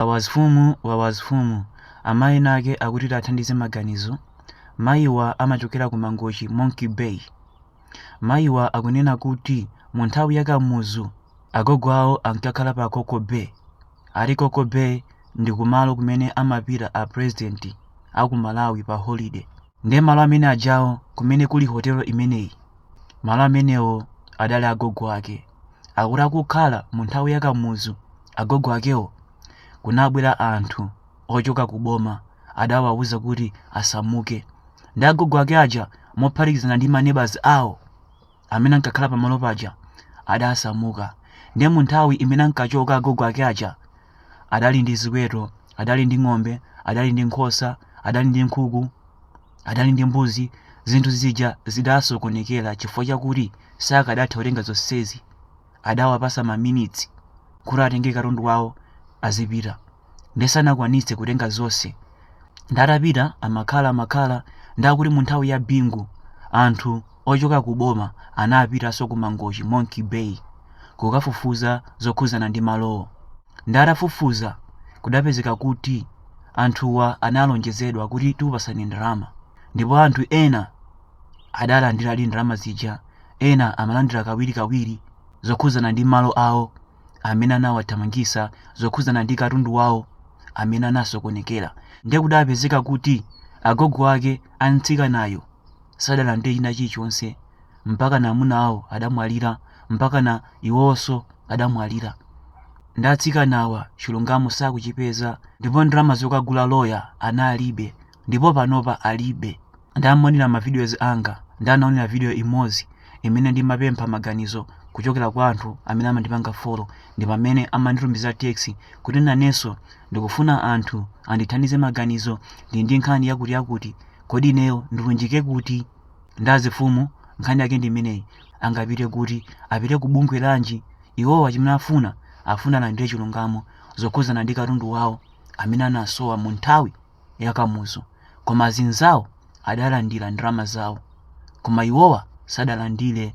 Wawa azifumu wawa azifumu Amayi ena ake akuti tiathandize maganizo Mayiwa amachokera ku Mangochi Monkey Bay Mayiwa akunena kuti mu nthawi ya Kamuzu agogo awo ankakhala pa Coco Bay ati Coco Bay ndi kumalo kumene amapita a president a ku Malawi pa holiday ndiye malo amene ajawo kumene kuli hotelo imeneyi malo amenewo adali agogo ake Akuti akukhala mu nthawi ya Kamuzu, agogo akewo, kunabwera anthu ochoka ku boma adawauza kuti asamuke. Ndi agogo ake aja mophatikizana ndi maneighbors awo amene ankakhala pamalo paja adasamuka. Ndiye mu nthawi imene ankachoka agogo ake aja adali ndi ziweto, adali ndi ng'ombe, adali ndi nkhosa, adali ndi nkhuku. adali ndi mbuzi zinthu zija zidasokonekera chifukwa chakuti sakadatha kutenga zonsezi adawapatsa maminitsi kuti atenge katundu wawo azipita nde sanakwanitse kutenga zonse nde atapita amakhala amakhala nde akuti mu nthawi ya bingu anthu ochoka ku boma anapitanso ku mangochi monkey bay kukafufuza zokhuzana ndi malowo Nde atafufuza kudapezeka kuti anthuwa analonjezedwa kuti tikupatsani ndalama ndipo anthu ena adalandiradi ndalama zija ena amalandira kawirikawiri zokhudzana ndi malo awo amene anawathamangisa zokhudzana ndi katundu wawo amene anasokonekera nde kudapezeka kuti agogo ake a mtsikanayo sadalandire china chilichonse mpaka na amuna awo adamwalira mpaka na iwonso adamwalira nde atsikanawa chilungamo sakuchipeza ndipo ndalama zokagulira loya analibe ndipo panopa alibe nde amaonera ma videos anga nde anaonera video imodzi imene ndimapempha maganizo kuchokera kwa anthu amene amandipanga follow ndi pamene amanditumiza text kuti nanenso ndikufuna anthu andithandize maganizo ndi ndi nkhani yakuti yakuti kodi ineyo ndilunjike kuti nde azifumu nkhani yake ndi imeneyi angapite kuti apite ku bungwe lanji iwowa chimene afuna afuna alandire chilungamo zokhudzana ndi katundu wawo amene anasowa mu nthawi ya kamuzu koma azinzawo adalandira ndalama zawo koma iwowa sadalandire